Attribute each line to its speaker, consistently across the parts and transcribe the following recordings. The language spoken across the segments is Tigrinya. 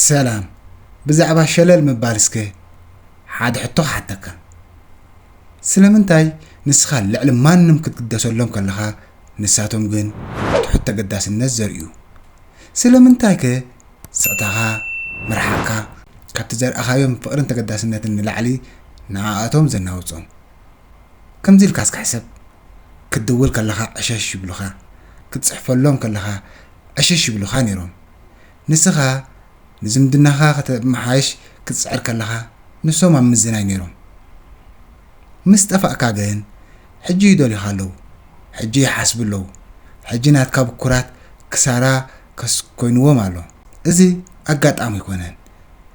Speaker 1: ሰላም ብዛዕባ ሸለል ምባል እስከ ሓደ ሕቶ ክሓተካ ስለምንታይ ንስኻ ልዕሊ ማንም ክትግደሰሎም ከለኻ ንሳቶም ግን ትሑት ተገዳስነት ዘርእዩ ስለምንታይ ከ ስቕታኻ ምርሓቕካ ካብቲ ዘርኣኻዮም ፍቕርን ተገዳስነትን ንላዕሊ ንዓኣቶም ዘናውጾም ከምዚ ኢልካ እስከ ሕሰብ ክትድውል ከለኻ ዕሸሽ ይብሉኻ ክትጽሕፈሎም ከለኻ ዕሽሽ ይብሉኻ ነይሮም። ንስኻ ንዝምድናኻ ከተመሓይሽ ክትጽዕር ከለኻ ንሶም ኣብ ምዝናይ ነይሮም። ምስ ጠፋእካ ግን ሕጂ ይደልዩኻ ኣለዉ፣ ሕጂ ይሓስቡ ኣለዉ፣ ሕጂ ናትካ ብኩራት ክሳራ ኮይንዎም ኣሎ። እዚ ኣጋጣሚ ኣይኮነን፣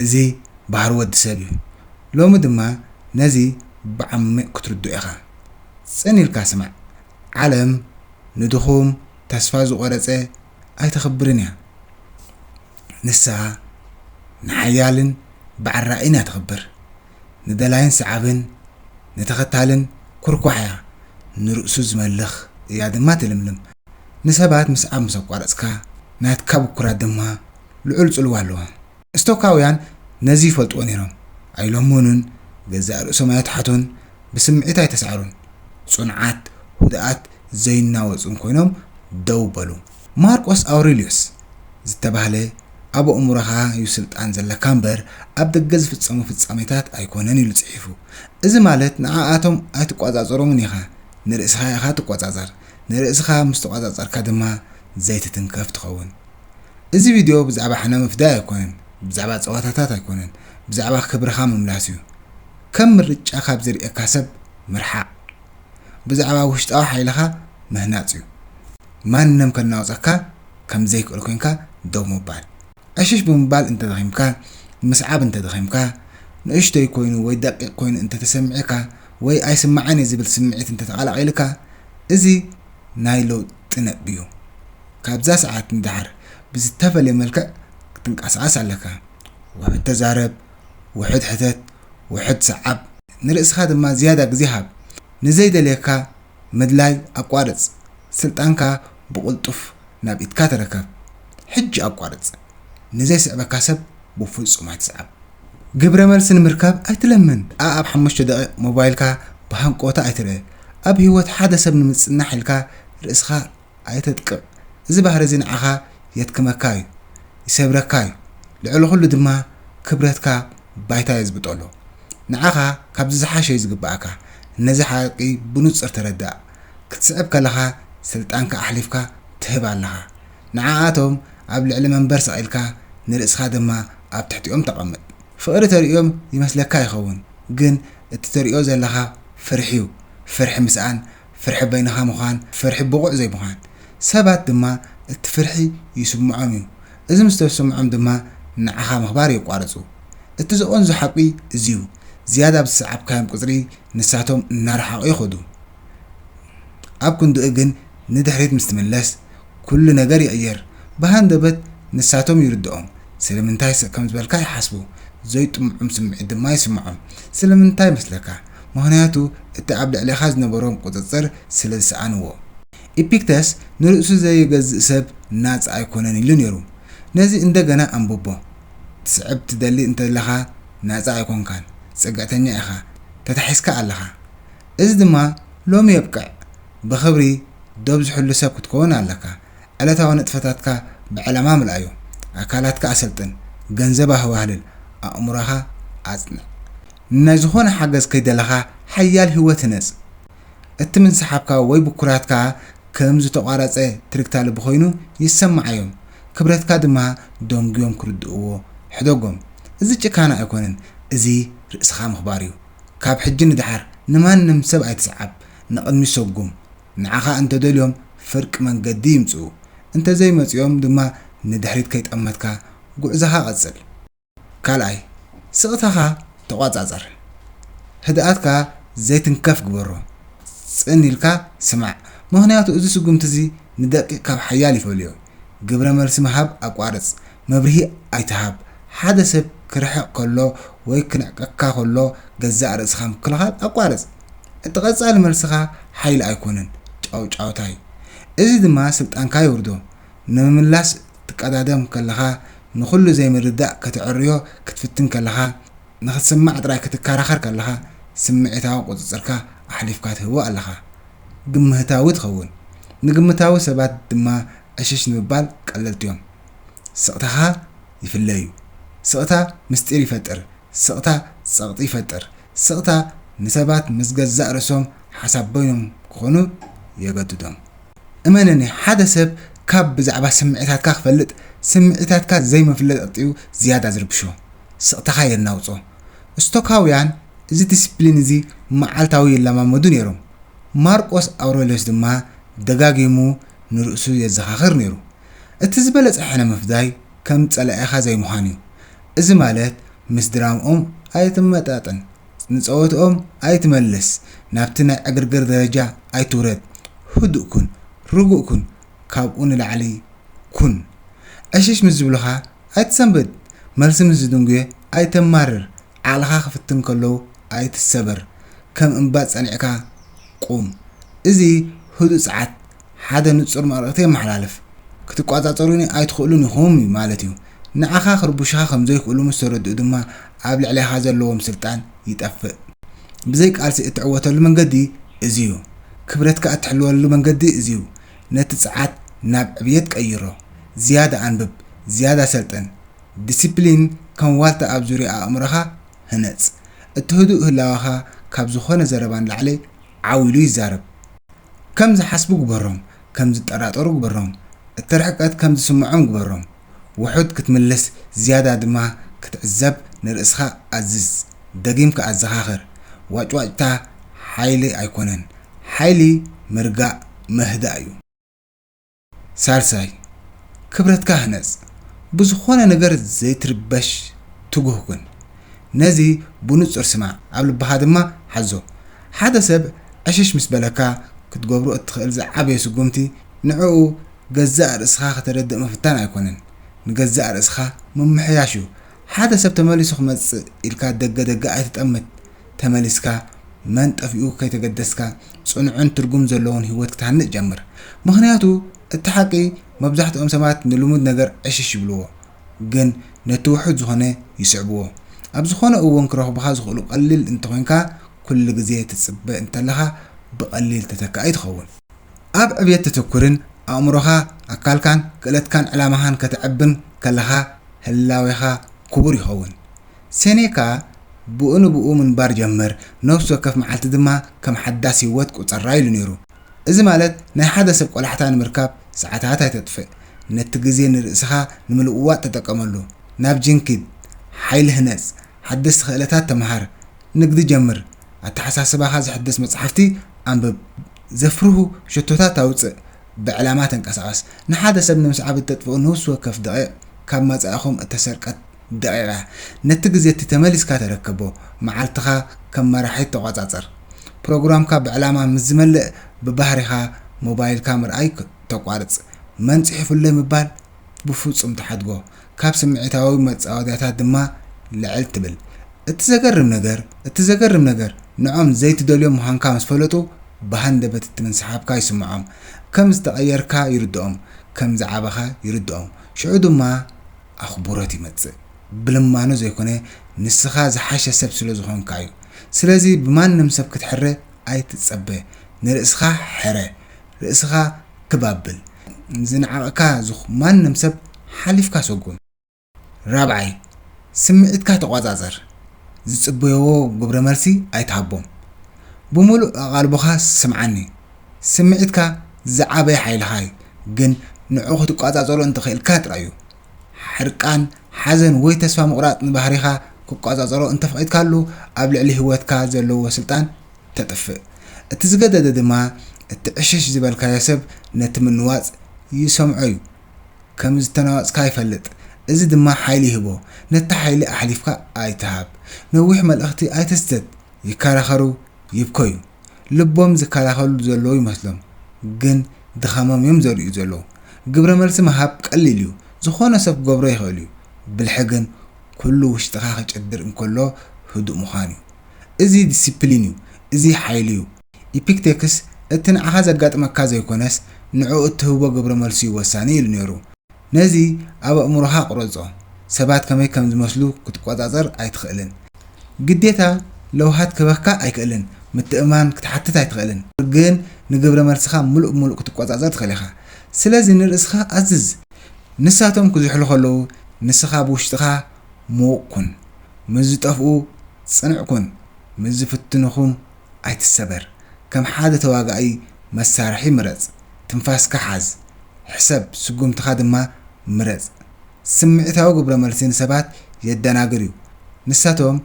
Speaker 1: እዚ ባህሪ ወዲ ሰብ እዩ። ሎሚ ድማ ነዚ ብዓሚቕ ክትርድኦ ኢኻ። ጽን ኢልካ ስማዕ፣ ዓለም ንድኹም ተስፋ ዝቖረጸ ኣይተኽብርን እያ። ንሳ ንሓያልን በዓል ራእይን እያ ተኽብር። ንደላይን ሰዓብን ንተኸታልን ኩርኳሕ እያ፣ ንርእሱ ዝመልኽ እያ ድማ ትልምልም። ንሰባት ምስዓብ ምስ ኣቋረጽካ ናትካ ብኩራት ድማ ልዑል ጽልዋ ኣለዎም። ስቶካውያን ነዚ ይፈልጥዎ ነይሮም። ኣይለመኑን፣ ገዛእ ርእሶም ኣይኣትሓቱን፣ ብስምዒት ኣይተሳዕሩን። ጽኑዓት፣ ህዱኣት፣ ዘይናወጹን ኰይኖም ደው በሉ። ማርቆስ ኣውሬልዮስ ዝተባህለ፣ ኣብ ኣእምሮኻ እዩ ስልጣን ዘለካ እምበር፣ ኣብ ደገ ዝፍጸሙ ፍጻሜታት ኣይኰነን ኢሉ ጽሒፉ። እዚ ማለት ንዓኣቶም ኣይትቈጻጸሮምን ኢኻ፣ ንርእስኻ ኢኻ እትቈጻጸር። ንርእስኻ ምስ ተቈጻጸርካ ድማ ዘይትትንከፍ ትኸውን። እዚ ቪድዮ ብዛዕባ ሕነ ምፍዳይ ኣይኮነን፣ ብዛዕባ ጸወታታት ኣይኮነን፣ ብዛዕባ ክብርኻ ምምላስ እዩ። ከም ምርጫ ካብ ዝርእየካ ሰብ ምርሓቕ ብዛዕባ ውሽጣዊ ሓይልኻ ምህናጽ እዩ። ማንም ከናውጸካ ከም ዘይክእል ኮንካ ደው ምባል። ዕሽሽ ብምባል እንተ ደኺምካ፣ ምስዓብ እንተ ደኺምካ፣ ንእሽቶይ ኮይኑ ወይ ደቂቕ ኮይኑ እንተ ተሰሚዒካ ወይ ኣይስማዕን እየ ዝብል ስምዒት እንተ ተቐላቒሉካ እዚ ናይ ለውጢ ነጥቢ እዩ። ካብዛ ሰዓት ንደሓር ብዝተፈለየ መልክዕ ክትንቀሳቐስ ኣለካ። ውሑድ ተዛረብ፣ ውሑድ ሕተት፣ ውሑድ ሰዓብ፣ ንርእስኻ ድማ ዝያዳ ግዜ ሃብ። ንዘይደልየካ ምድላይ ኣቋርጽ፣ ስልጣንካ ብቕልጡፍ ናብ ኢድካ ተረከብ። ሕጂ ኣቋርጽ፣ ንዘይስዕበካ ሰብ ብፍጹም ኣይትስዓብ። ግብረ መልሲ ንምርካብ ኣይትለምን፣ ኣኣብ ሓሙሽተ ደቒቕ ሞባይልካ ብሃንቀውታ ኣይትርእ፣ ኣብ ህይወት ሓደ ሰብ ንምጽናሕ ኢልካ ርእስኻ ኣይተጥቅዕ እዚ ባህሪ እዚ ንዓኻ የድክመካ እዩ ይሰብረካ እዩ ልዕሊ ኩሉ ድማ ክብረትካ ባይታ የዝብጠሉ ንዓኻ ካብዚ ዝሓሸ እዩ ዝግበኣካ ነዚ ሓቂ ብኑጽር ተረዳእ ክትስዕብ ከለኻ ስልጣንካ ኣሕሊፍካ ትህብ ኣለኻ ንዓኣቶም ኣብ ልዕሊ መንበር ሰቒልካ ንርእስኻ ድማ ኣብ ትሕቲኦም ተቐምጥ ፍቕሪ ተርእዮም ይመስለካ ይኸውን ግን እቲ ተርእዮ ዘለኻ ፍርሒዩ ፍርሒ ምስኣን ፍርሒ በይንኻ ምዃን፣ ፍርሒ ብቑዕ ዘይምዃን። ሰባት ድማ እቲ ፍርሒ ይስምዖም እዩ። እዚ ምስ ተስምዖም ድማ ንዓኻ ምኽባር የቋርጹ። እቲ ዘቐንዞ ሓቂ እዚ'ዩ፣ ዝያዳ ብዝሰዓብካዮም ቁጽሪ ንሳቶም እናረሓቑ ይኸዱ። ኣብ ክንድኡ ግን ንድሕሪት ምስ ትምለስ፣ ኩሉ ነገር ይቕየር ብሃንደበት ንሳቶም ይርድኦም ስለምንታይ ስቕ ከም ዝበልካ ይሓስቡ ዘይጥሙዑም ስምዒት ድማ ይስምዖም ስለምንታይ መስለካ ምኽንያቱ እቲ ኣብ ልዕሌኻ ዝነበሮም ቁጽጽር ስለ ዝሰኣንዎ ኢፒክተስ ንርእሱ ዘይገዝእ ሰብ ናጻ ኣይኮነን ኢሉ ኔሩ ነዚ እንደገና ኣንብቦ ትስዕብ ትደሊ እንተለኻ ናጻ ኣይኮንካን ጽግዕተኛ ኢኻ ተታሒዝካ ኣለኻ እዚ ድማ ሎሚ የብቅዕ ብኽብሪ ዶብ ዝሕሉ ሰብ ክትከውን ኣለካ። ዕለታዊ ንጥፈታትካ ብዕላማ ምልኣዮ። ኣካላትካ ኣሰልጥን፣ ገንዘብ ኣህባህልል፣ ኣእምሮኻ ኣጽንዕ። ንናይ ዝኾነ ሓገዝ ከይደለኻ ሓያል ህይወት ህነጽ። እቲ ምንስሓብካ ወይ ብኩራትካ ከም ዝተቋረጸ ትርግታ ልቢ ኮይኑ ይሰማዓዮም። ክብረትካ ድማ ደንጉዮም ክርድእዎ ሕደጎም። እዚ ጭካነ ኣይኮነን እዚ ርእስኻ ምኽባርዩ። ካብ ሕጂ ንድሓር ንማንም ሰብ ኣይትስዓብ ንቕድሚት ሰጉም ንዓኻ እንተደልዮም ፍርቂ መንገዲ ይምጽኡ እንተዘይ መጺኦም ድማ ንድሕሪት ከይጠመትካ ጉዕዞኻ ቀጽል ካልኣይ ስቕታኻ ተቖጻጸር ህድኣትካ ዘይትንከፍ ግበሮ ጽን ኢልካ ስማዕ ምኽንያቱ እዚ ስጉምቲ እዚ ንደቂቕ ካብ ሓያል ይፈልዮ ግብረ መልሲ ምሃብ ኣቋርጽ መብርሂ ኣይትሃብ። ሓደ ሰብ ክርሕቕ ከሎ ወይ ክንዕቀካ ከሎ ገዛእ ርእስኻ ምክልኻል ኣቋርጽ። እቲ ቀጻሊ መልስኻ ሓይሊ ኣይኮነን፣ ጫውጫውታ'ዩ። እዚ ድማ ስልጣንካ የውርዶ። ንምምላስ ክትቀዳደም ከለኻ፣ ንኹሉ ዘይምርዳእ ከተዐርዮ ክትፍትን ከለኻ፣ ንኽትስማዕ ጥራይ ክትከራኸር ከለኻ፣ ስምዒታዊ ቁጽጽርካ ኣሕሊፍካ ትህቦ ኣለኻ። ግምህታዊ ትኸውን። ንግምታዊ ሰባት ድማ ዕሽሽ ንምባል ቀለልቲ'ዮም። ስቕታኻ ይፍለ እዩ። ስቕታ ምስጢር ይፈጥር። ስቕታ ጸቕጢ ይፈጥር። ስቕታ ንሰባት ምስ ገዛእ ርእሶም ሓሳብ በይኖም ክኾኑ የገድዶም። እመነኒ ሓደ ሰብ ካብ ብዛዕባ ስምዒታትካ ክፈልጥ ስምዒታትካ ዘይምፍለጥ'ዩ ዝያዳ ዝርብሾ። ስቕታኻ የናውጾ። ስቶካውያን እዚ ዲሲፕሊን እዚ መዓልታዊ ይለማመዱ ነይሮም። ማርቆስ ኣውረልዮስ ድማ ደጋጊሙ ንርእሱ የዘኻኽር ነይሩ። እቲ ዝበለጸ ሕነ ምፍዳይ ከም ጸላኢኻ ዘይምዃን እዩ። እዚ ማለት ምስ ድራምኦም ኣይትመጣጠን፣ ንጸወትኦም ኣይትመለስ፣ ናብቲ ናይ ዕግርግር ደረጃ ኣይትውረድ፣ ህዱእ ኩን፣ ርጉእ ኩን፣ ካብኡ ንላዕሊ ኩን። ዕሽሽ ምስ ዝብሉኻ ኣይትሰንብድ፣ መልሲ ምስ ዝድንጉየ ኣይተማርር፣ ዓቕልኻ ክፍትን ከለው ኣይትሰበር፣ ከም እምባ ጸኒዕካ ቁም። እዚ ህዱእ ጸዓት ሓደ ንጹር መልእኽቲ የመሓላልፍ። ክትቆጻጸሩኒ ኣይትኽእሉን ኢኹም እዩ ማለት እዩ። ንዓኻ ክርብሹኻ ከም ዘይክእሉ ምስ ተረድኡ ድማ ኣብ ልዕሌኻ ዘለዎም ስልጣን ይጠፍእ። ብዘይ ቃልሲ እትዕወተሉ መንገዲ እዚ እዩ። ክብረትካ እትሕልወሉ መንገዲ እዚ እዩ። ነቲ ጸዓት ናብ ዕብየት ቀይሮ። ዝያዳ ኣንብብ፣ ዝያዳ ሰልጥን። ዲሲፕሊን ከም ዋልታ ኣብ ዙርያ ኣእምሮኻ ህነጽ። እቲ ህዱእ ህላወኻ ካብ ዝኾነ ዘረባ ንላዕሊ ዓው ኢሉ ይዛረብ። ከም ዝሓስቡ ግበሮም፣ ከም ዝጠራጠሩ ግበሮም፣ እቲ ርሕቀት ከም ዝስምዖም ግበሮም። ውሑድ ክትምልስ ዝያዳ ድማ ክትዕዘብ ንርእስኻ ኣዝዝ። ደጊምካ ኣዘኻኽር፣ ዋጭዋጭታ ሓይሊ ኣይኮነን፣ ሓይሊ ምርጋእ፣ ምህዳእ፣ እዩ። ሳልሳይ፣ ክብረትካ ህነጽ። ብዝኾነ ነገር ዘይትርበሽ ትጉህ ኩን። ነዚ ብንጹር ስማዕ፣ ኣብ ልብኻ ድማ ሓዞ። ሓደ ሰብ ዕሽሽ ምስ በለካ፣ ክትገብሮ እትኽእል ዝዓበየ ስጉምቲ ንዕኡ ገዛእ ርእስኻ ከተረድእ ምፍታን ኣይኮነን፣ ንገዛእ ርእስኻ ምምሕያሽ እዩ። ሓደ ሰብ ተመሊሱ ክመጽእ ኢልካ ደገ ደገ ኣይትጠምት። ተመሊስካ መን ጠፊኡ ከይተገደስካ ጽኑዕን ትርጉም ዘለዎን ህይወት ክትሃንጽ ጀምር። ምኽንያቱ እቲ ሓቂ መብዛሕትኦም ሰባት ንልሙድ ነገር ዕሽሽ ይብልዎ ግን ነቲ ውሑድ ዝኾነ ይስዕብዎ። ኣብ ዝኾነ እዎን ክረኽቡኻ ዝኽእሉ ቀሊል እንተኾይንካ ኩሉ ግዜ ትጽበ እንተለኻ ብቀሊል ተተካኢ ትኸውን። ኣብ ዕብየት ተተኩርን ኣእምሮኻ፣ ኣካልካን ክእለትካን ዕላማኻን ከተዕብን ከለኻ ህላዌኻ ክቡር ይኸውን። ሴኔካ ብኡ ንብኡ ምንባር ጀመር፣ ነፍሲ ወከፍ መዓልቲ ድማ ከም ሓዳስ ህይወት ቍጸራ ኢሉ ነይሩ። እዚ ማለት ናይ ሓደ ሰብ ቈላሕታ ንምርካብ ሰዓታት ኣይተጥፍእ፣ ነቲ ግዜ ንርእስኻ ንምልውዋጥ ተጠቀመሉ፣ ናብ ጂም ኪድ፣ ሓይሊ ህነጽ፣ ሓደስቲ ክእለታት ተመሃር፣ ንግዲ ጀምር፣ ኣተሓሳስባኻ ዘሕድስ መጻሕፍቲ ኣንብብ፣ ዘፍርሁ ሸቶታት ኣውጽእ፣ ብዕላማ ተንቀሳቐስ። ንሓደ ሰብ ንምስዓብ እተጥፍኡ ነፍሲ ወከፍ ደቒቕ ካብ መጻኢኹም እተሰርቀት ደቒቓ ነቲ ግዜ እቲ ተመሊስካ ተረከቦ፣ መዓልትኻ ከም መራሒ ተቖጻጸር። ፕሮግራምካ ብዕላማ ምስ ዝመልእ ብባህሪኻ ሞባይልካ ምርኣይ ተቋርጽ። መን ጽሒፉለይ ምባል ብፍጹም ትሓድጎ፣ ካብ ስምዒታዊ መጻወድያታት ድማ ልዕል ትብል። እቲ ዘገርም ነገር እቲ ዘገርም ነገር ንዖም ዘይትደልዮም ምዃንካ ምስ ፈለጡ ብሃንደበት እቲ ምንስሓብካ ይስምዖም። ከም ዝተቐየርካ ይርድኦም፣ ከም ዝዓበኻ ይርድኦም። ሽዑ ድማ። ኣኽቡሮት ይመጽእ ብልማኖ ዘይኮነ ንስኻ ዝሓሸ ሰብ ስለ ዝኾንካ እዩ ስለዚ ብማንም ሰብ ክትሕረ ኣይትጸበ ንርእስኻ ሕረ ርእስኻ ክብ ኣብል ንዝንዓቕካ ዝኽ ማንም ሰብ ሓሊፍካ ሰጉም ራብዓይ ስምዒትካ ተቖጻጸር ዝጽበዮዎ ግብረመልሲ ኣይትሃቦም ብምሉእ ኣቓልቦኻ ስምዓኒ ስምዒትካ ዝዓበየ ሓይልኻ እዩ፣ ግን ንዕኡ ክትቆጻጸሮ እንተኽኢልካ ጥራይ እዩ። ሕርቃን፣ ሓዘን ወይ ተስፋ ምቑራጽ ንባህሪኻ ክቆጻጸሮ እንተፍቒድካሉ ኣብ ልዕሊ ህይወትካ ዘለዎ ስልጣን ተጥፍእ። እቲ ዝገደደ ድማ እቲ ዕሽሽ ዝበልካዮ ሰብ ነቲ ምንዋጽ ይሰምዖ እዩ። ከም ዝተናወጽካ ይፈልጥ፣ እዚ ድማ ሓይሊ ይህቦ። ነቲ ሓይሊ ኣሕሊፍካ ኣይትሃብ። ነዊሕ መልእኽቲ ኣይትስደድ፣ ይከራኸሩ፣ ይብከዩ። ልቦም ዝከላኸልሉ ዘለዉ ይመስሎም ግን ድኻሞም እዮም ዘርእዩ ዘለዉ። ግብረ መልሲ ምሃብ ቀሊል እዩ ዝኾነ ሰብ ክገብሮ ይኽእል እዩ ብልሒ ግን ኩሉ ውሽጥኻ ክጭድር እንከሎ ህዱእ ምዃን እዩ። እዚ ዲሲፕሊን እዩ እዚ ሓይሊ እዩ። ኢፒክቴክስ እቲ ንዓኻ ዘጋጥመካ ዘይኮነስ ንዕኡ እትህቦ ግብረ መልሲ እዩ ወሳኒ ኢሉ ነይሩ። ነዚ ኣብ ኣእምሮኻ ቁረጾ፣ ሰባት ከመይ ከም ዝመስሉ ክትቆጻጸር ኣይትኽእልን። ግዴታ ለውሃት ክህበካ ኣይክእልን፣ ምትእምማን ክትሓትት ኣይትኽእልን፣ ግን ንግብረ መልስኻ ምሉእ ብምሉእ ክትቆጻጸር ትኽእል ኢኻ። ስለዚ ንርእስኻ ኣዝዝ። ንሳቶም ክዝሕሉ ከለዉ ንስኻ ብውሽጥኻ ምዉቕ ኩን። ምስ ዝጠፍኡ ጽኑዕ ኩን፣ ምስ ዝፍትኑኹም ኣይትሰበር ከም ሓደ ተዋጋኢ መሳርሒ ምረጽ ትንፋስካ ሓዝ ሕሰብ ስጉምትኻ ድማ ምረጽ ስምዒታዊ ግብረ መልሲ ንሰባት የደናግር እዩ ንሳቶም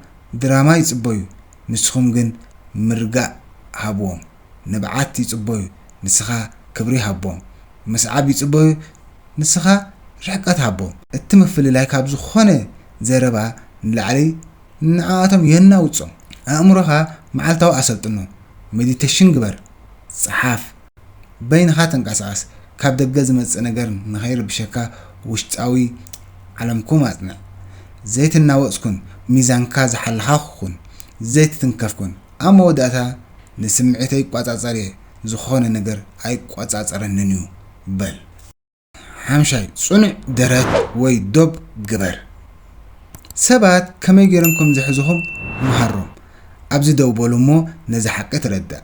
Speaker 1: ድራማ ይጽበዩ ንስኹም ግን ምርጋእ ሃብዎም ንብዓት ይጽበዩ ንስኻ ክብሪ ሃቦም ምስዓብ ይጽበዩ ንስኻ ርሕቀት ሃቦም እቲ ምፍልላይ ካብ ዝኾነ ዘረባ ንላዕሊ ንዓኣቶም የናውጾም። ኣእምሮኻ መዓልታዊ ኣሰልጥኖ፣ ሜዲተሽን ግበር፣ ጽሓፍ፣ በይንኻ ተንቀሳቐስ፣ ካብ ደገ ዝመጽእ ነገር ንኸይርብሸካ ውሽጣዊ ዓለምኩም ኣጽንዕ። ዘይትናወጽ ኩን፣ ሚዛንካ ዝሓለኻ ኩን፣ ዘይትትንከፍ ኩን። ኣብ መወዳእታ ንስምዒተይ እቋጻጸር'የ፣ ዝኾነ ነገር ኣይቆጻጸረንን'ዩ በል። ሓምሻይ፣ ጽኑዕ ደረት ወይ ዶብ ግበር። ሰባት ከመይ ገይሮም ከም ዝሕዙኹም ምሃሮም። ኣብዚ ደው በሉ እሞ ነዚ ሓቂ ተረዳእ።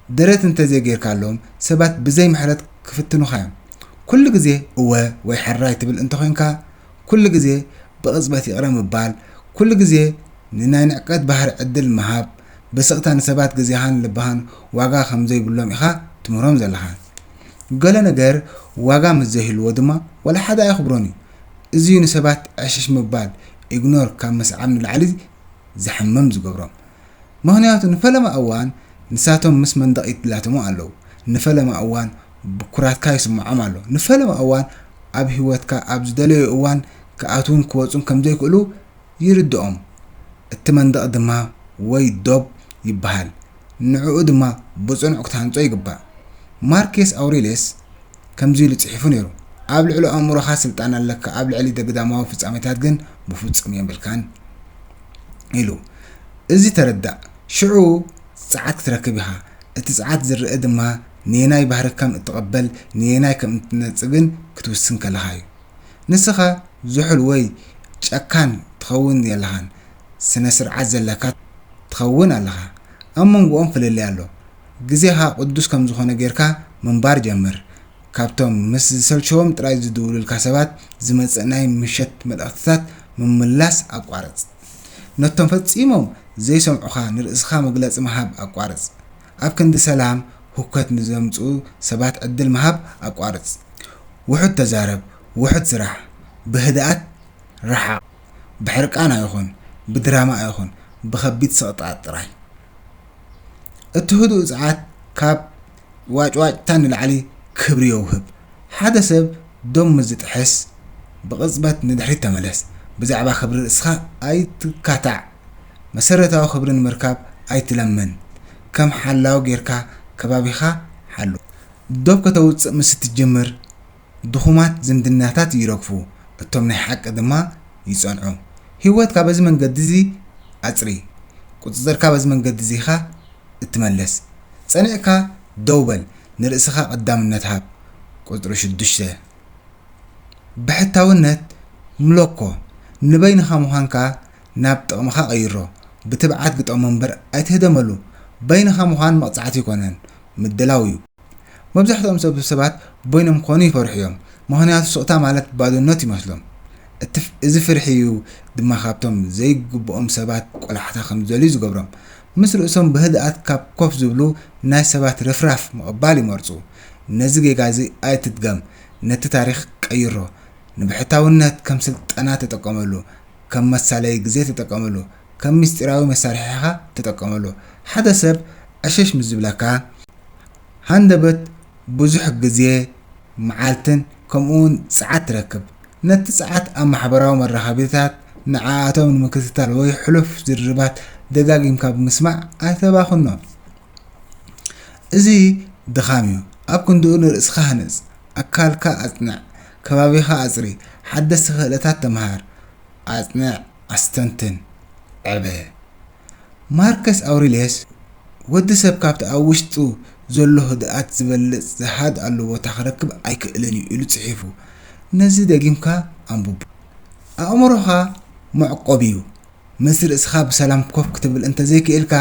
Speaker 1: ደረት እንተ ዘይገይርካሎም፣ ሰባት ብዘይ ምሕረት ክፍትኑኻ እዮም። ኩሉ ግዜ እወ ወይ ሕራይ ትብል እንተ ዄንካ፣ ኩሉ ግዜ ብቕጽበት ይቕረ ምባል፣ ኩሉ ግዜ ንናይ ንዕቀት ባህሪ ዕድል ምሃብ፣ ብስቕታ ንሰባት ግዜኻን ልብኻን ዋጋ ከም ዘይብሎም ኢኻ ትምህሮም ዘለኻ። ገለ ነገር ዋጋ ምስ ዘይህልዎ ድማ ዋላ ሓደ ኣየኽብሮን እዩ። እዚ'ዩ ንሰባት ዕሽሽ ምባል፣ ኢግኖር፣ ካብ ምስዓብ ንላዕሊ ዘሕምም ዝገብሮም። ምኽንያቱ ንፈለማ እዋን ንሳቶም ምስ መንደቕ ይላተሙ ኣለዉ። ንፈለማ እዋን ብኩራትካ ይስምዖም ኣሎ። ንፈለማ እዋን ኣብ ህይወትካ ኣብ ዝደለይዎ እዋን ክኣትዉን ክወጹን ከም ዘይክእሉ ይርድኦም። እቲ መንደቕ ድማ ወይ ዶብ ይበሃል፣ ንዕኡ ድማ ብጽኑዕ ክትሃንጾ ይግባእ። ማርኬስ ኣውሬልየስ ከምዚ ኢሉ ጽሒፉ ነይሩ፣ ኣብ ልዕሊ ኣእምሮኻ ስልጣን ኣለካ፣ ኣብ ልዕሊ ደግዳማዊ ፍጻሜታት ግን ብፍጹም የብልካን ኢሉ። እዚ ተረዳእ፣ ሽዑ ጸዓት ክትረክብ ኢኻ፣ እቲ ጸዓት ዝርእ ድማ ንየናይ ባህሪ ከም እትቕበል ንየናይ ከም እትነጽግን ክትውስን ከለኻ'ዩ። ንስኻ ዝሑል ወይ ጨካን ትኸውን የለኻን ስነ ስርዓት ዘለካ ትኸውን ኣለኻ ኣብ መንጎኦም ፍልልይ ኣሎ ግዜኻ ቅዱስ ከም ዝኾነ ጌርካ ምንባር ጀምር ካብቶም ምስ ዝሰልቸዎም ጥራይ ዝድውሉልካ ሰባት ዝመጽእ ናይ ምሸት መልእኽትታት ምምላስ ኣቋርጽ ነቶም ፈጺሞም ዘይሰምዑኻ ንርእስኻ መግለጺ ምሃብ ኣቋርጽ ኣብ ክንዲ ሰላም ሁከት ንዘምጽኡ ሰባት ዕድል ምሃብ ኣቋርጽ። ውሑድ ተዛረብ፣ ውሑድ ስራሕ፣ ብህድኣት ረሓቕ፣ ብሕርቃን ኣይኹን፣ ብድራማ ኣይኹን፣ ብኸቢድ ሰቕጣጥ ጥራይ። እቲ ህዱእ ጸዓት ካብ ዋጭዋጭታ ንላዕሊ ክብሪ የውህብ። ሓደ ሰብ ዶብ ምስ ዝጥሕስ ብቕጽበት ንድሕሪት ተመለስ። ብዛዕባ ክብሪ ርእስኻ ኣይትካታዕ። መሰረታዊ ክብሪ ንምርካብ ኣይትለምን ከም ሓላዊ ጌርካ ከባቢኻ ሓሉ። ዶብ ከተውጽእ ምስ እትጅምር ድኹማት ዝምድናታት ይረግፉ እቶም ናይ ሓቂ ድማ ይጸንዑ። ህይወትካ በዚ መንገዲ እዚ ኣጽሪ። ቁጽጽርካ በዚ መንገዲ እዚ ኢኻ እትመልስ። ጸኒዕካ ደው በል ንርእስኻ ቀዳምነት ሃብ ቁጽሪ ሽዱሽተ ብሕታውነት ምሎኮ ንበይንኻ ምዃንካ ናብ ጥቕምኻ ቀይሮ። ብትብዓት ግጠሞ እምበር ኣይትህደመሉ። በይንኻ ምዃን መቕጻዕቲ ኣይኮነን፣ ምድላው እዩ። መብዛሕትኦም ሰብ ሰባት በይኖም ክኾኑ ይፈርሑ እዮም፣ ምኽንያቱ ስቕታ ማለት ባዶነት ይመስሎም። እዚ ፍርሒ እዩ ድማ ካብቶም ዘይግብኦም ሰባት ቆላሕታ ከም ዝደልዩ ዝገብሮም። ምስ ርእሶም ብህድኣት ካብ ኮፍ ዝብሉ ናይ ሰባት ርፍራፍ ምቕባል ይመርጹ። ነዚ ጌጋ እዚ ኣይትድገም፣ ነቲ ታሪኽ ቀይሮ። ንብሕታውነት ከም ስልጠና ተጠቀመሉ፣ ከም መሳለዪ ግዜ ተጠቀመሉ። ከም ምስጢራዊ መሳርሒኻ ተጠቀመሉ። ሓደ ሰብ ዕሽሽ ምስ ዝብለካ፣ ሃንደበት ብዙሕ ግዜ፣ መዓልትን ከምኡውን ጸዓት ትረክብ። ነቲ ጸዓት ኣብ ማሕበራዊ መራኸቢታት ንዓኣቶም ንምክትታል ወይ ሕሉፍ ዝርርባት ደጋጊምካ ብምስማዕ ኣይተባኽኖ። እዚ ድኻም እዩ። ኣብ ክንድኡ ንርእስኻ ሃንጽ። ኣካልካ ኣጽንዕ። ከባቢኻ ኣጽሪ፣ ሓደስቲ ክእለታት ተምሃር፣ ኣጽንዕ፣ ኣስተንትን፣ ዕበ። ማርከስ ኣውሪልየስ፣ ወዲ ሰብ ካብቲ ኣብ ውሽጡ ዘሎ ህድኣት ዝበልጽ ዝሃድኣሉ ቦታ ክረክብ ኣይክእልን እዩ ኢሉ ጽሒፉ። ነዚ ደጊምካ ኣንብቦ። ኣእምሮኻ መዕቆቢ'ዩ፣ ምስ ርእስኻ ብሰላም ኮፍ ክትብል እንተ ዘይክኢልካ፣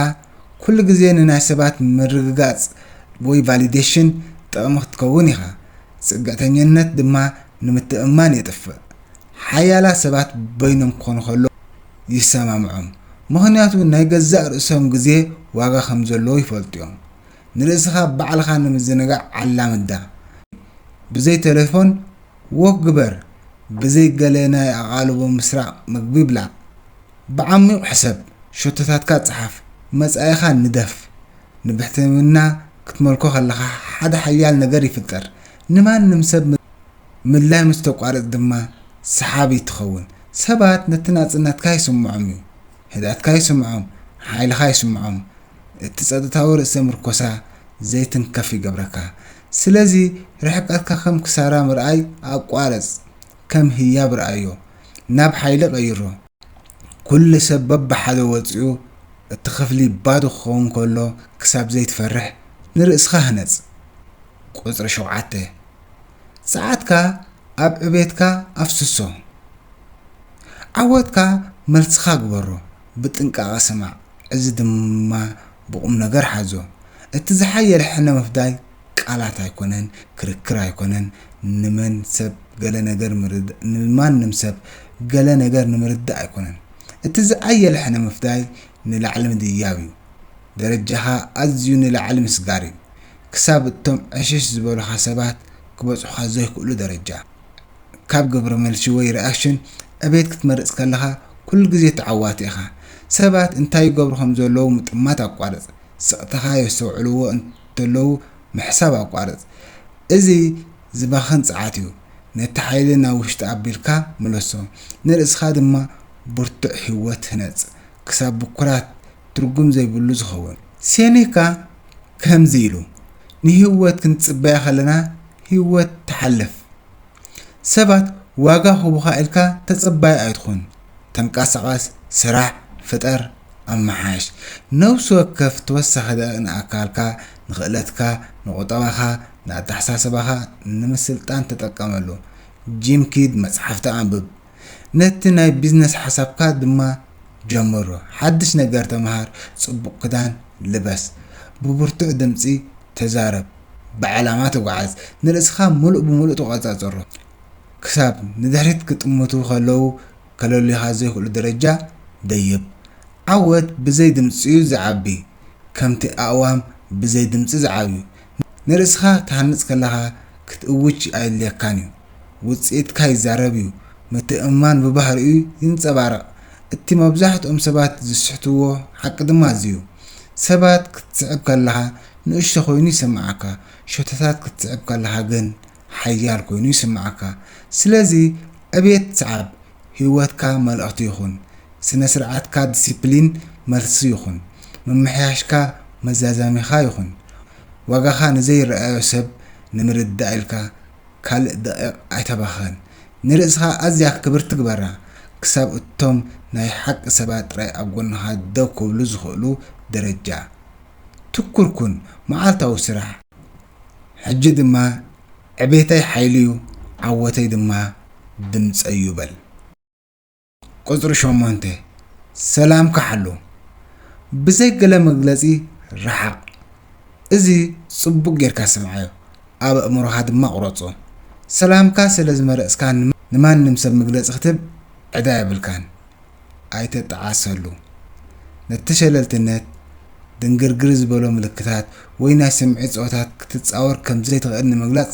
Speaker 1: ኩሉ ግዜ ንናይ ሰባት ምርግጋጽ ወይ ቫሊደሽን ጥቕሚ ክትከውን ኢኻ። ጽግዕተኝነት ድማ ንምትእምማን የጥፍእ። ሓያላት ሰባት በይኖም ክኾኑ ከለዉ ይሰማምዖም፣ ምኽንያቱ ናይ ገዛእ ርእሶም ግዜ ዋጋ ከም ዘለዎ ይፈልጡ እዮም። ንርእስኻ ባዕልኻ ንምዝንጋዕ ኣላምዳ፣ ብዘይ ተሌፎን ዎክ ግበር ብዘይ ገለ ናይ ኣቓልቦ ምስራቕ ምግቢ ብላዕ ብዓሚቝ ሕሰብ ሸቶታትካ ጽሓፍ መጻኢኻ ንደፍ ንብሕትውና ክትመልኮ ከለኻ ሓደ ሓያል ነገር ይፍጠር ንማንም ሰብ ምድላይ ምስ ተቋርጽ ድማ ሰሓቢት ትኸውን ሰባት ነቲ ናጽነትካ ይስምዖም እዩ ህድኣትካ ይስምዖም ሓይልኻ ይስምዖም እቲ ጸጥታዊ ርእሰ ምርኮሳ ዘይትንከፍ ይገብረካ ስለዚ ርሕቀትካ ከም ክሳራ ምርኣይ ኣቋርጽ ከም ህያብ ርኣዮ ናብ ሓይሊ ቀይሮ። ኩሉ ሰብ በብሓደ ወጺኡ እቲ ክፍሊ ባዶ ክኸውን ከሎ ክሳብ ዘይትፈርሕ ንርእስኻ ህነጽ። ቁጽሪ ሸውዓተ፣ ጸዓትካ ኣብ ዕቤትካ ኣፍስሶ። ዓወትካ መልስኻ ግበሮ። ብጥንቃቐ ስማዕ፣ እዚ ድማ ብቑምነገር ሓዞ። እቲ ዝሓየለ ሕነ ምፍዳይ ቃላት ኣይኮነን፣ ክርክር ኣይኮነን፣ ንመን ሰብ ገለ ነገር ምርዳእ፣ ንማንም ሰብ ገለ ነገር ንምርዳእ ኣይኮነን። እቲ ዝኣየለ ሕነ ምፍዳይ ንላዕሊ ምድያብ እዩ። ደረጃኻ ኣዝዩ ንላዕሊ ምስጋር እዩ። ክሳብ እቶም ዕሽሽ ዝበሉኻ ሰባት ክበጽሑኻ ዘይክእሉ ደረጃ። ካብ ግብረ መልሲ ወይ ሪኣክሽን ዕቤት ክትመርጽ ከለኻ ኩሉ ግዜ ተዓዋቲ ኢኻ። ሰባት እንታይ ይገብሩ ከም ዘለዉ ምጥማት ኣቋርጽ። ስቕታኻ የስተውዕልዎ እንተለዉ ምሕሳብ ኣቋርጽ። እዚ ዝባኽን ጸዓት እዩ። ነቲ ሓይሊ ናብ ውሽጢ ኣቢልካ ምለሶ። ንርእስኻ ድማ ብርቱዕ ህይወት ህነጽ። ክሳብ ብኩራት ትርጉም ዘይብሉ ዝኸውን። ሴኔካ ከምዚ ኢሉ ንህይወት ክንጽበያ ከለና ህይወት ትሓልፍ። ሰባት ዋጋ ክህቡኻ ኢልካ ተጸባዪ ኣይትኹን። ተንቀሳቐስ፣ ስራሕ፣ ፍጠር፣ ኣመሓይሽ። ነብሲ ወከፍ ተወሳኺ ደቒቕ ንኣካልካ፣ ንኽእለትካ፣ ንቑጠባኻ፣ ንኣተሓሳስባኻ ንምስልጣን ተጠቀመሉ። ጂም ኪድ፣ መጽሓፍቲ ኣንብብ። ነቲ ናይ ቢዝነስ ሓሳብካ ድማ ጀምሮ። ሓድሽ ነገር ተምሃር፣ ጽቡቕ ክዳን ልበስ፣ ብብርቱዕ ድምጺ ተዛረብ፣ ብዕላማ ተጓዓዝ፣ ንርእስኻ ምሉእ ብምሉእ ተቖጻጸሮ፣ ክሳብ ንድሕሪት ክጥምቱ ከለዉ ከለልዩኻ ዘይክእሉ ደረጃ ደይብ። ዓወት ብዘይ ድምጺ'ዩ ዝዓቢ፣ ከምቲ ኣእዋም ብዘይ ድምጺ ዝዓብዩ። ንርእስኻ ትሃንጽ ከለኻ ክትእውጅ ኣየድልየካን እዩ። ውጽኢትካ ይዛረብ እዩ። ምትእምማን ብባህሪኡ ይንጸባረቕ። እቲ መብዛሕትኦም ሰባት ዝስሕትዎ ሓቂ ድማ እዚ እዩ። ሰባት ክትስዕብ ከለኻ ንእሽቶ ኮይኑ ይስምዓካ፣ ሸቶታት ክትስዕብ ከለኻ ግን ሓያል ኮይኑ ይስምዓካ። ስለዚ ዕብየት ስዓብ፣ ህይወትካ መልእኽቲ ይኹን። ስነ-ስርዓትካ ዲሲፕሊን መልሲ ይኹን። ምምሕያሽካ መዛዛሚኻ ይኹን። ዋጋኻ ንዘይረኣዮ ሰብ ንምርዳእ ኢልካ ካልእ ደቒቕ ኣይተባኽን። ንርእስኻ ኣዝያ ክብርቲ ግበራ፣ ክሳብ እቶም ናይ ሓቂ ሰባት ጥራይ ኣብ ጎንኻ ደው ክብሉ ዝኽእሉ ደረጃ። ትኩር ኩን፣ መዓልታዊ ስራሕ። ሕጂ ድማ ዕቤተይ ሓይሊ'ዩ ዓወተይ ድማ ድምጸይ'ዩ በል። ቁጽሪ ሸሞንተ፣ ሰላምካ ሓሉ፣ ብዘይ ገለ መግለጺ ረሓቕ። እዚ ጽቡቕ ጌርካ ስምዓዮ፣ ኣብ ኣእምሮኻ ድማ ኣቑረጾ። ሰላምካ ስለ ዝመረጽካ ንማንም ሰብ መግለጺ ክትህብ ዕዳ የብልካን። ኣይተጣዓሰሉ። ነቲ ሸለልትነት፣ ድንግርግር ዝበሎ ምልክታት ወይ ናይ ስምዒት ጸወታት ክትጻወር ከም ዘይትኽእል ንምግላጽ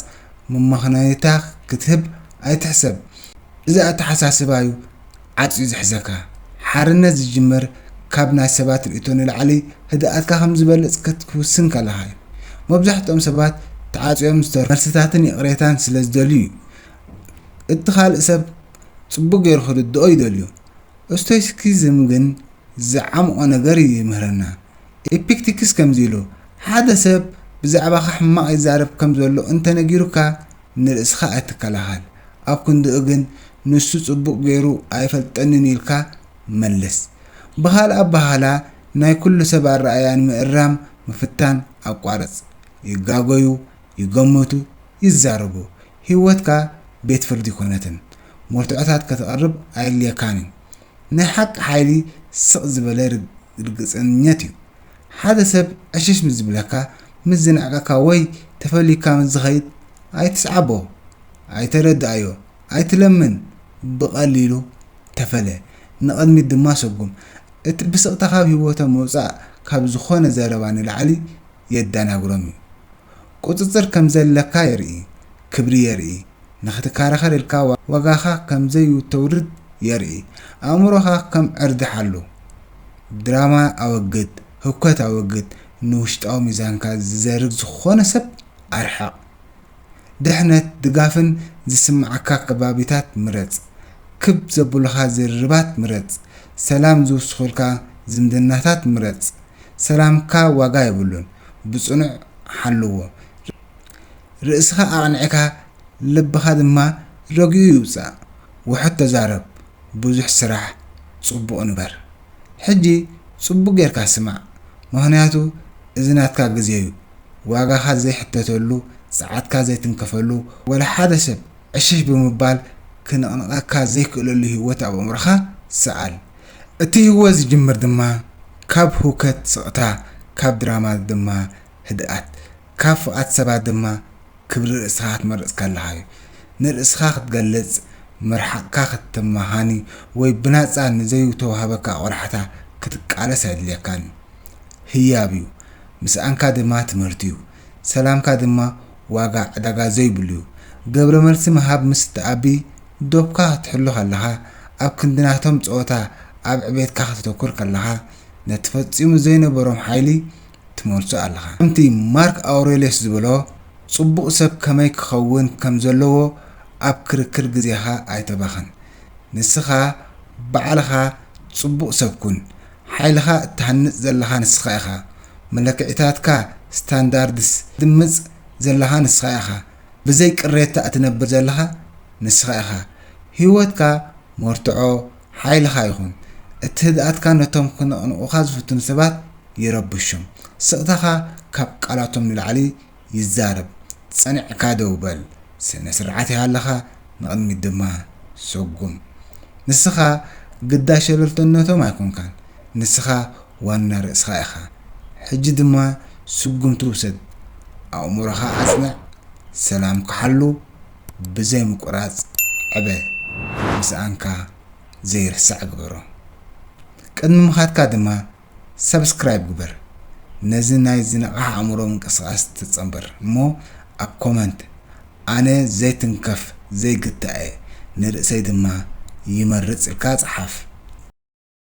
Speaker 1: መመኽነይታ ክትህብ ኣይትሕሰብ። እዚ ኣተሓሳስባ'ዩ ዓጽዩ ዝሕዘካ። ሓርነት ዝጅምር ካብ ናይ ሰባት ርእይቶ ንላዕሊ ህድኣትካ ከም ዝበልጽ ክትውስን ከለኻ'ዩ። መብዛሕትኦም ሰባት ተዓጽዮም ዝተርፉ መልስታትን ይቕሬታን ስለ ዝደልዩ'ዩ። እቲ ካልእ ሰብ ጽቡቕ ገይሩ ክርድኦ ይደልዩ። ስቶይሲኪዝም ግን ዝዓምቖ ነገር እዩ ይምህረና። ኤፒክቲክስ ከምዚ ኢሉ፣ ሓደ ሰብ ብዛዕባኻ ሕማቕ ይዛረብ ከም ዘሎ እንተ ነጊሩካ፣ ንርእስኻ ኣይትከላኸል። ኣብ ክንድኡ ግን ንሱ ጽቡቕ ገይሩ ኣይፈልጠንን ኢልካ መልስ። ብኻልእ ኣበሃህላ ናይ ኩሉ ሰብ ኣረኣእያ ንምእራም ምፍታን ኣቋርጽ። ይጋገዩ፣ ይገመቱ ይዛረቡ ሂወትካ ቤት ፍርዲ ኣይኮነትን መርትዖታት ከተቅርብ ኣየድልየካን እዩ ናይ ሓቂ ሓይሊ ስቅ ዝበለ ርግጸኝነት እዩ ሓደ ሰብ ዕሽሽ ምስ ዝብለካ ምስ ዝንዕቀካ ወይ ተፈሊካ ምስ ዝከይድ ኣይትስዓቦ ኣይተረድኣዮ ኣይትለምን ብቀሊሉ ተፈለ ንቅድሚት ድማ ሰጉም እቲ ብስቅታ ካብ ሂወቶም ምውጻእ ካብ ዝኮነ ዘረባ ንላዕሊ የዳናግሮም እዩ ቁጽጽር ከምዘለካ የርኢ ክብሪ የርኢ ንክትካራከር ኢልካ ዋጋካ ከምዘዩተውርድ የርኢ ኣእምሮካ ከም ዕርዲ ሓሉ ድራማ ኣወግድ ህውከት ኣወግድ ንውሽጣዊ ሚዛንካ ዝዘርግ ዝኮነ ሰብ ኣርሕቅ ድሕነት ድጋፍን ዝስምዓካ ከባቢታት ምረጽ ክብ ዘብሉካ ዝርርባት ምረጽ ሰላም ዝውስኩልካ ዝምድናታት ምረጽ ሰላምካ ዋጋ የብሉን ብጽኑዕ ሓልዎ። ርእስኻ ኣቕኒዕካ ልብኻ ድማ ረጊኡ ይውጻእ ውሑድ ተዛረብ ብዙሕ ስራሕ ጽቡቕ ንበር። ሕጂ ጽቡቕ ጌርካ ስማዕ ምኽንያቱ እዚ ናትካ ግዜ'ዩ ዋጋኻ ዘይሕተተሉ ጸዓትካ ዘይትንከፈሉ ወላ ሓደ ሰብ ዕሽሽ ብምባል ክንቕንቐካ ዘይክእለሉ ሂወት ኣብ ኣእምሮኻ ሰኣል። እቲ ህወ ዝጅምር ድማ ካብ ህውከት ስቕታ ካብ ድራማ ድማ ህድኣት ካብ ፍቓት ሰባት ድማ ክብሪ ርእስኻ ክትመርጽ ከለኻ እዩ። ንርእስኻ ክትገልጽ፣ ምርሓቕካ ክትመኻኒ ወይ ብናጻ ንዘዩተዋህበካ ቆላሕታ ክትቃለስ ኣየድልየካን እዩ። ህያብ እዩ። ምስኣንካ ድማ ትምህርቲ እዩ። ሰላምካ ድማ ዋጋ ዕዳጋ ዘዩብሉ እዩ። ገብረመልሲ ምሃብ ምስ ትኣቢ ዶብካ ክትሕሉ ከለኻ፣ ኣብ ክንዲ ናቶም ጸወታ ኣብ ዕቤትካ ከተተኩር ከለኻ፣ ነቲ ፈጺሙ ዘይነበሮም ሓይሊ ትመልሶ ኣለኻ። ከምቲ ማርክ ኣውረልዮስ ዝበሎ፣ ጽቡቕ ሰብ ከመይ ክኸውን ከም ዘለዎ ኣብ ክርክር ግዜኻ ኣይተባኽን። ንስኻ ባዕልኻ ጽቡቕ ሰብ ኩን። ሓይልኻ እትሃንጽ ዘለኻ ንስኻ ኢኻ። መለክዒታትካ፣ ስታንዳርድስ፣ እትድምጽ ዘለኻ ንስኻ ኢኻ። ብዘይ ቅሬታ እትነብር ዘለኻ ንስኻ ኢኻ። ህይወትካ መርትዖ ሓይልኻ ይኹን። እቲ ህድኣትካ ነቶም ክነቕንቑኻ ዝፍትኑ ሰባት ይረብሾም። ስቕታኻ ካብ ቃላቶም ንላዕሊ ይዛረብ። ጸኒዕካ ደው በል። ስነ-ስርዓት ይሃልኻ፣ ንቕድሚት ድማ ሰጉም። ንስኻ ግዳይ ሸለልቶነቶም ኣይኮንካን። ንስኻ ዋና ርእስኻ ኢኻ ሕጂ ድማ ስጉምቲ ውሰድ ኣእሙሮኻ ኣጽንዕ ሰላምካ ሓሉ ብዘይ ምቁራጽ ዕበ ምስኣንካ ዘይርሳዕ ግበሮ ቅድሚ ምኻድካ ድማ ሳብስክራይብ ግበር ነዚ ናይ ዝነቓሕ ኣእሙሮ ምንቅስቓስ ተጸንብር እሞ ኣብ ኮመንት ኣነ ዘይትንከፍ ዘይግታእ እየ ንርእሰይ ድማ ይመርጽ ኢልካ ጽሓፍ።